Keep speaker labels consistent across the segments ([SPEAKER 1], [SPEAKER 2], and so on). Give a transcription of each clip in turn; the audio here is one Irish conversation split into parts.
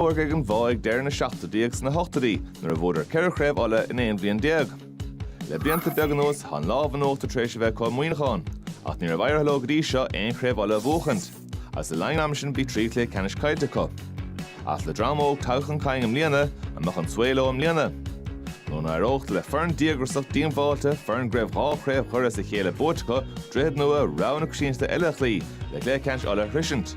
[SPEAKER 1] órga ag an Bhoth ag deireadh na seachtóidí agus sna hochtóidí nuair a bhuadar ceithre chraobh Uladh in aon bhliain déag. Le blianta beaga anuas tá an lámh in uachtar tar éis a bheith acu i Muineachán, ach ní raibh éirithe leo go dtí seo aon chraobh Uladh a bhuachaint, agus le linn an ama sin bhí trí chluiche ceannais caillte acu. Ach le dream óg tagtha chun cinn i mbliana, an mbeadh an svae leo i mbliana? Nó an éireodh le foireann díograsach díongbháilte, foireann go raibh dhá chraobh Dhoire as a chéile buaite acu, Droichead Nua, rogha na coitiantachta eile a chloí, le cluiche ceannais Uladh a shroisint?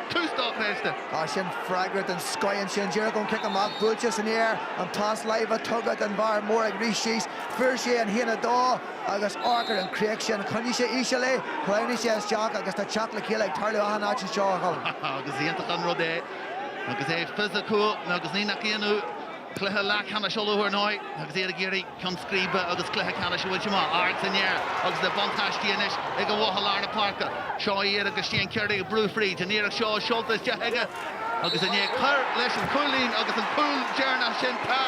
[SPEAKER 2] Tús dochreidte. Á, sin
[SPEAKER 3] freagra den scoith ansin, díreach ón cic amach, buailte san aer, an pas láimhe tugtha don bhfear mór ag rith síos, fuair sé an haon a dó agus amharc ar an chríoch sin, choinnigh sé íseal é, shleamhnaigh sé isteach agus tá teacht le chéile ag tarlú achan áit anseo, a Choilm. Is
[SPEAKER 2] iontach an rud é agus é fisiciúil agus ní nach ionadh, cluiche leathcheannais Uladh ar ndóigh agus iad ag iarraidh, ceann scríbe agus cluiche ceannais a bhaint amach, ard san aer agus an buntáiste anois ag an Bhoth i lár na páirce. Seo iad agus Shane Carey ag brú fríd, an iarracht seo seolta isteach aige agus i ndiaidh cur leis an chúilín agus an cúl deireanach sin tá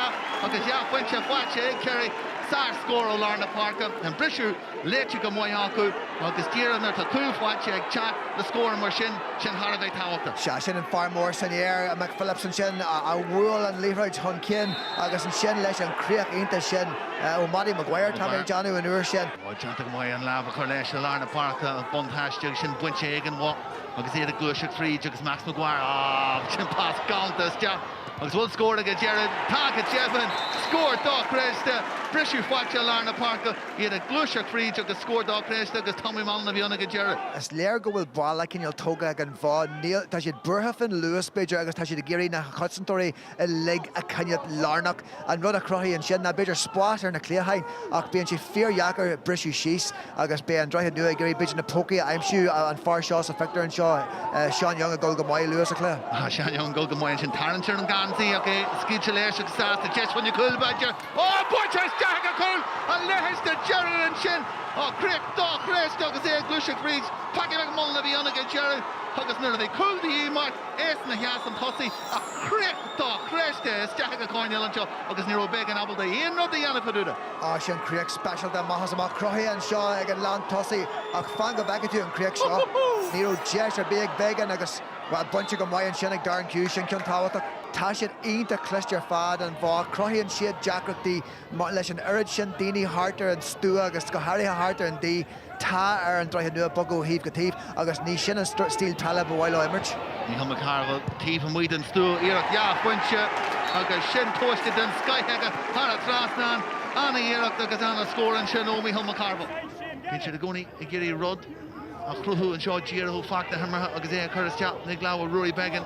[SPEAKER 2] agus dhá phointe faighte ag Carey, sár scór ó lár na páirce, an briseadh. léite go maith acu agus díreach nuair atá cúl faighte ag teacht le scór mar sin, sin thar a bheith tábhachtach. Sea, sin an fear mór
[SPEAKER 3] san aer, McPhillips ansin, a bhuail an liathróid chun cinn agus ansin leis an gcríoch iontach sin ó Mhattie Maguire, tá mé ag déanamh, an uair sin. Bhuel, déanta go maith an
[SPEAKER 2] lámh a chur leis i lár na páirce an buntáiste sin bainte ag an Bhoth agus iad ag gluaiseacht fríd agus Max Maguire, á, sin pas galánta isteach agus bhfuil scór ag an deireadh? Tá go deimhin! Scór dochreidte! Briseadh faighte i lár na páirce. iad ag gluaiseacht fríd agus scór dochreidte agus Tommy Mallen a bhí ann ag an deireadh. Is léir go
[SPEAKER 3] bhfuil balla cineál tógtha ag an Bhoth. Níl, tá siad buartha faoin luas b'fhéidir agus tá siad ag iarraidh na cosantóirí uilig a choinneáil lárnach. An rud a chruthaíonn sin ná b'fhéidir spás ar na cliatháin ach bíonn sé fíordheacair briseadh síos agus beidh an Droichead Nua ag iarraidh b'fhéidir na pócaí a aimsiú, an fear seo sa phictiúr anseo, Seán Young ag dul go maith, luath sa chluiche. Seán Young ag dul go maith
[SPEAKER 2] ansin, tarraingt ar an gheansaí ach é scaoilte leis agus sásta, deis chun na cúl b'fhéidir? Buailte isteach, an cúl a leithéid de dheireadh ansin á críoch dochreidte agus é ag gluaiseacht fríd Patrick McMullan a bhí ann ag an deireadh agus nuair a bhí cúl de dhíth mar aos na sheas an tosaí á críoch dochreidte isteach ag an gcoirnéal anseo agus ní raibh Beggan ábalta aon rud a dhéanamh fadúda. Á sin
[SPEAKER 3] críoch speisialta amach is amach cruthaithe anseo ag an lántosaí ach fan go bhfeice tú an chríoch seo ní raibh deis ar bith ag Beggan agus bhuel bainte go maith ansin ag Darren Hughes sin ceann tábhachtach Tá siad iontach cliste ar fad, an Bhoth. Cruthaíonn siad deacrachtaí leis an oiread sin daoine thart ar an stua agus go háirithe thart ar an D, tá ar an Droichead Nua bogadh ó thaobh go taobh agus ní sin an stíl peile ba mhaith leo imirt. Mícheál McCarville,
[SPEAKER 2] taobh amuigh den stua, iarracht dhá phointe agus sin tomhaiste den scoith aige thar an trasnán. Ana-iarracht agus ana-scór ansin ó Mícheál McCarville. Bíonn siad i gcónaí ag iarraidh rud a chruthú anseo, díriú, faic na himeartha agus é a chur isteach ag lámha Ruairí Beggan.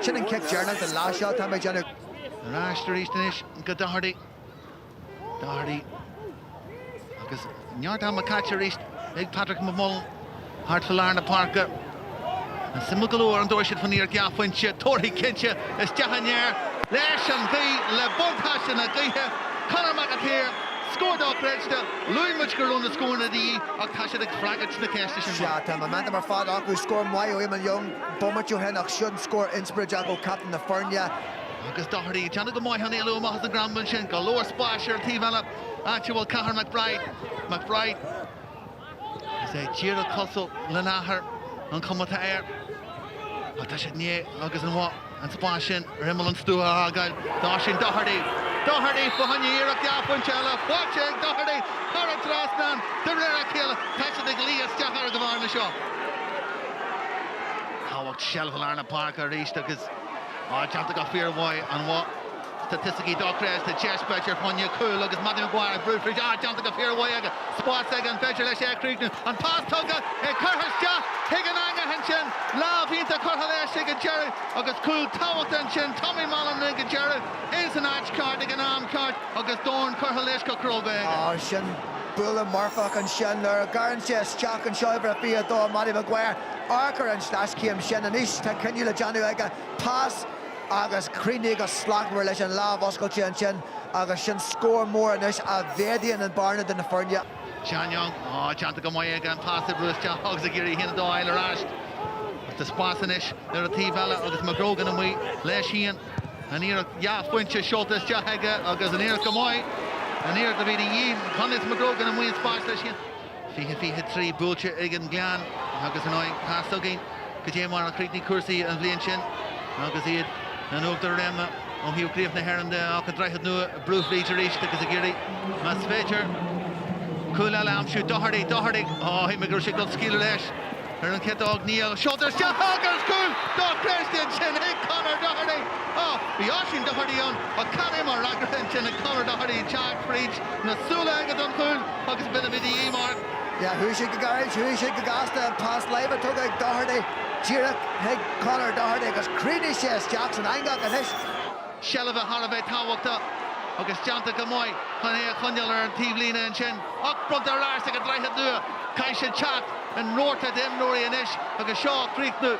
[SPEAKER 3] Sin an cic deireanach don leath seo atá mé ag déanamh. Ar ais
[SPEAKER 2] arís anois go Doherty. Doherty agus neart ama caite arís ag Patrick McMullan thart fá lár na páirce. An suimiúil go leor an dtabharfaidh siad fán iarracht dhá phointe. Tabharfaidh cinnte. Isteach san aer leis an ghaoth le buntáiste na gaoithe, Conor McAteer. Scór dochreidte. Luaigh muid go raibh na scóranna de dhíth ach tá siad ag freagairt na ceiste sin Mark. Sea, tá an momentum ar fad
[SPEAKER 3] acu. Scór maith ó Eamonn Young. bomaite ó shin ach sin scór inspioráideach ó captaen na foirne. Agus
[SPEAKER 2] Doherty ag déanamh go maith chun éalú amach as an gcrannlann ansin, go leor spáis ar an taobh eile, áit a bhfuil Cathair McBride. McBride agus é díreach cosúil lena athair, an chuma atá air. Ach tá siad i ndiaidh agus An Bhoth. An spás sin ar imeall an stua a fhágáil d'Oisín Doherty. Doherty fá choinne iarracht dhá phointe eile. Faighte ag Doherty thar an trasnán de réir a chéile. Tá siad ag luí isteach ar an bhearna seo. Tábhacht seilbhe i lár na páirce arís agus á déanta go fíormhaith. An. Staitisticí dochreidte deis b'fhéidir fá choinne cúl agus Mattie Maguire ag brú fríd á déanta go fíormhaith aige, spás aige, an féidir leis é a chríochnú? An pas tugtha, é curtha isteach chuig an eangach ansin, lámh iontach curtha leis ag an deireadh agus cúl tábhachtach ansin, Tommy Mallen ag an deireadh, é san áit cheart ag an am ceart agus dorn curtha leis go cróga aige. Ó
[SPEAKER 3] sin, buille marfach ansin nuair a ghearrann sé isteach anseo uimhir a 22 Mattie Maguire, amharc ar an sleaschéim sin, anois tá cinneadh le déanamh aige, pas, agus críochnaithe go slachtmhar leis an lámh oscailte ansin agus sin scór mór anois a mhéadaíonn an bearna idir na foirne. Seán Young, á,
[SPEAKER 2] déanta go maith aige, an pas a bhrú isteach agus ag iarraidh a haon a dó a fháil ar ais. Ach tá spás anois ar an taobh eile agus McGrogan amuigh leis féin. An iarracht dhá phointe seolta isteach aige agus an iarracht go maith, an iarracht a bhí de dhíth. Conleth McGrogan amuigh sa spás leis féin. fiche fiche trí buailte ag an Ghleann agus ar ndóigh tá a fhios againn cad é mar a chríochnaigh cúrsaí an bhliain sin agus iad in uachtar réime ó thaobh chraobh na hÉireann de ach an Droichead Nua a brú fríd arís agus ag iarraidh más féidir cúl eile a aimsiú Doherty Doherty á shíl mé go raibh sé ag dul scaoileadh leis Ar an chiotóg, níl ach seolta isteach agus cúl! Dochreidte ansin ag Conor Doherty. Á, bhí Oisín Doherty ann ach cad é mar fhreagra ansin ag Conor Doherty, teacht fríd na súile aige don chúl agus b'in a bhí de dhíth, Mark. Yeah, chuaigh siad
[SPEAKER 3] go gairid, chuaigh siad go gasta, an pas láimhe tugtha ag Doherty díreach chuig Conor Doherty agus chríochnaigh sé isteach san eangach anois. seilbhe
[SPEAKER 2] thar a bheith tábhachtach agus déanta go maith chun é a choinneáil ar an taobhlíne ansin ach bronntar ar ais ag an Droichead Nua. Caithfidh siad teacht ina rabharta d'imreoirí anois agus seo á chríochnú.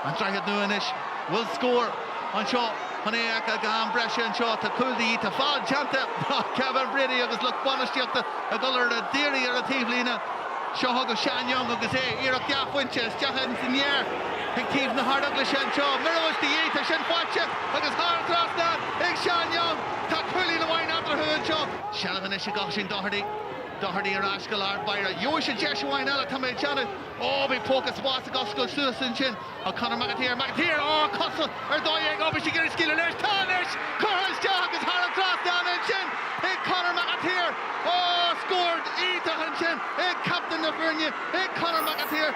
[SPEAKER 2] An Droichead Nua anois bhfuil scór anseo chun é a chur go ham breise anseo. Tá cúl de dhíth. Tá feall déanta ach Kevin Brady agus lucht bainistíochta ag dul ar an daoraí ar an taobhlíne. Seo chugaibh Sean Young agus é iarracht dhá phointe isteach san aer. Ag taobh na hArdeaglaise anseo, mura bhfuil de dhíth, tá sin faighte agus thar an trasnán ag Seán Young. Tá cúilín amháin eatarthu anseo. Seilbh anois ag Oisín Doherty. Doherty ar ais go lár báire. Gheobhaidh sé deis amháin eile, tá mé ag déanamh. Ó, bhí póca spáis ag oscailt suas ansin ag Conor McAteer. McAteer, á, cosa ar dóigh aige, ó bhí sé ag iarraidh scaoileadh leis. Tá anois! Curtha isteach agus thar an trasnán ansin ag Conor McAteer. Á, scór iontach ansin ag captaen na foirne, ag Conor McAteer.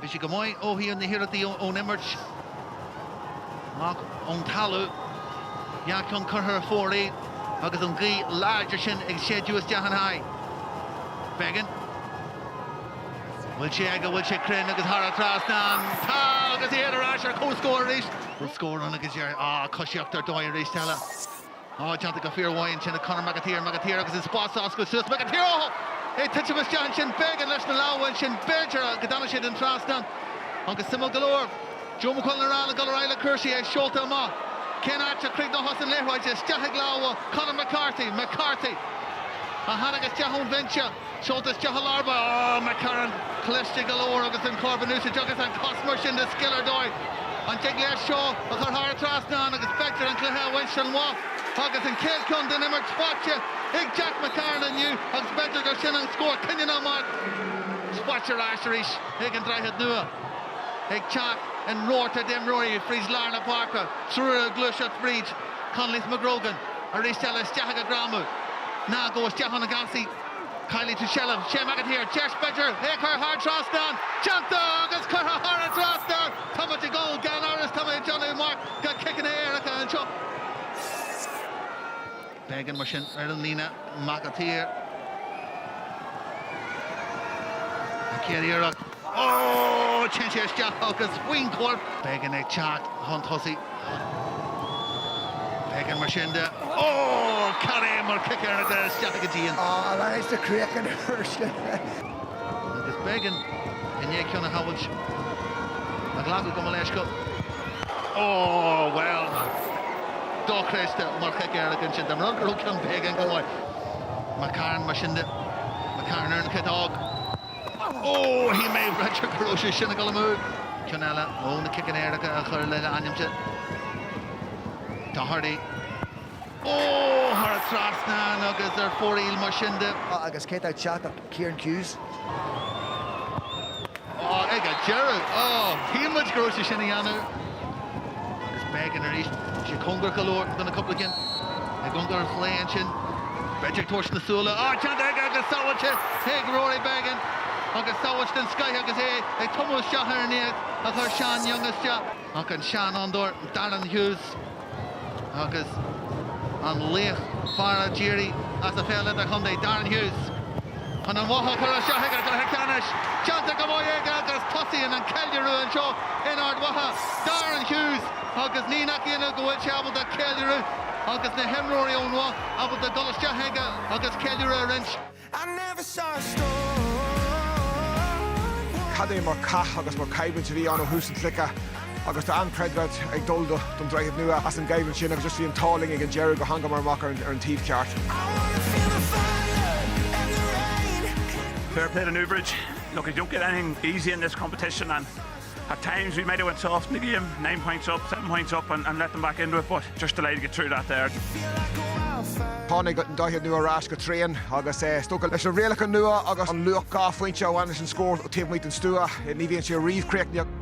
[SPEAKER 2] Bhí sé go maith ó thaobh na hiarrachtaí ón imirt ach ón talamh, dhá cheann curtha ar fóraoil agus an ghaoth láidir sin ag séideadh isteach ina aghaidh. Beggan, bhfuil sé aige, bhfuil sé cruinn agus thar an trasnán. Tá agus iad ar ais ar comhscór arís. Bhfuil scór ann agus iad á coisíocht ar dóigh arís eile. Ó, déanta go fíor mhaith ansin ag Conor McAteer, McAteer agus an spás á oscailt suas, McAteer, ó! Ag titim isteach ansin, Beggan leis na lámha ansin, b'fhéidir, go dtáinig sé den trasnán agus suimiúil go leor, Joe McQuillan ag rá leo dul ar aghaidh le cúrsaí, é seolta amach, cén áit a chríochnóchas an liathróid, isteach ag lámha Conor McCarthy, McCarthy a tháinig isteach ón bhinse. Seolta isteach i lár báire, McCarron, cliste go leor agus an corp in úsáid agus an chos mar sin de scil ar dóigh. An dtig leis seo a chur thar an trasnán agus b'fhéidir an cluiche a bhaint an-mhaith agus an chéad cheann den imirt faighte ag Jack McCarron inniu agus b'fhéidir gur sin an scór cinniúnach marc faighte ar ais arís ag an Droichead Nua. Ag teacht in rabharta d'imreoirí fríd lár na páirce, triúr ag gluaiseacht fríd, Conleth McGrogan arís eile isteach ag a greamú ná gabh isteach ann an gheansaí caillfidh tú seilbh Shea McAteer deis b'fhéidir é a chur thar an trasnán déanta agus curtha thar an trasnán tá muid ag dul gan amhras tá mé ag déanamh amach go ciceanna éirice anseo. Beggan mar sin ar an líne McAteer an chéad iarracht. Téann sé isteach agus faoin gcorp. Beggan ag teacht chun tosaigh. Beggan mar sin de. Cad é mar chic éirice isteach go dtí an. Ar ais sa
[SPEAKER 3] chríoch an uair sin.
[SPEAKER 2] Agus Beggan i ndiaidh ceann a shábháilt. Ag glacadh go mleisciúil. Bhuel, dochreidte mar chic éirice ansin. Dar ndóigh go raibh ceann Beggan go maith. McCarron mar sin de. McCarron ar an chiotóg. Ó, shíl mé ráite go raibh sé sin ag dul amú! Ceann eile ó na ciceanna éirice a chur lena ainmse. Doherty. Ó, thar an trasnán agus ar fóraoil mar sin de. Á, agus cé atá ag
[SPEAKER 3] teacht ach Kieran
[SPEAKER 2] Hughes. Á, ag an deireadh! Ó, shíl muid go raibh sé sin a dhéanamh! Agus Beggan arís. Bhí sé cóngarach go leor do na cúpla cinn i gcóngar an chlaí ansin. B'fhéidir tabhairt na súile ó déanta aige agus sábháilte ag Rory Beggan agus sábháilt den scoith agus é ag tumadh isteach ar an iarracht a chuir Seán Young isteach. Ach an seanfhondúir Darren Hughes agus an laoch fear a d'éirigh as an pheil idirchontae, Darren Hughes Chun an Bhoth a chur isteach ag an gcluiche ceannais, déanta aige agus tosaíonn an ceiliúradh anseo in Ard Mhacha, Darren Hughes agus ní nach ionadh go bhfuil sé ábalta ceiliúradh agus na himreoirí ón Bhoth ábalta dul isteach chuige agus ceiliúradh a
[SPEAKER 4] roinnt. Cad é mar chath agus mar choimhlint a bhí ann ó thús an chluiche. agus tá an-chreidmheas ag dul do don Droichead Nua as an gcoimhlint sin agus just bhí an t-ádh linn ag an deireadh gur thángamar amach ar an taobh
[SPEAKER 5] ceart. Fair play to Newbridge. Look you don't get anything easy in this competition and at times we might have went soft in the game, nine points up, seven points up and and let them back into it but just delighted to get through that
[SPEAKER 4] there. Tháinig an Droichead Nua ar ais go tréan agus is dócha leis na rialacha nua agus an luach dhá phointe a bhain leis an scór ón taobh amuigh den stua. Ní bhíonn sé riamh críochnaithe.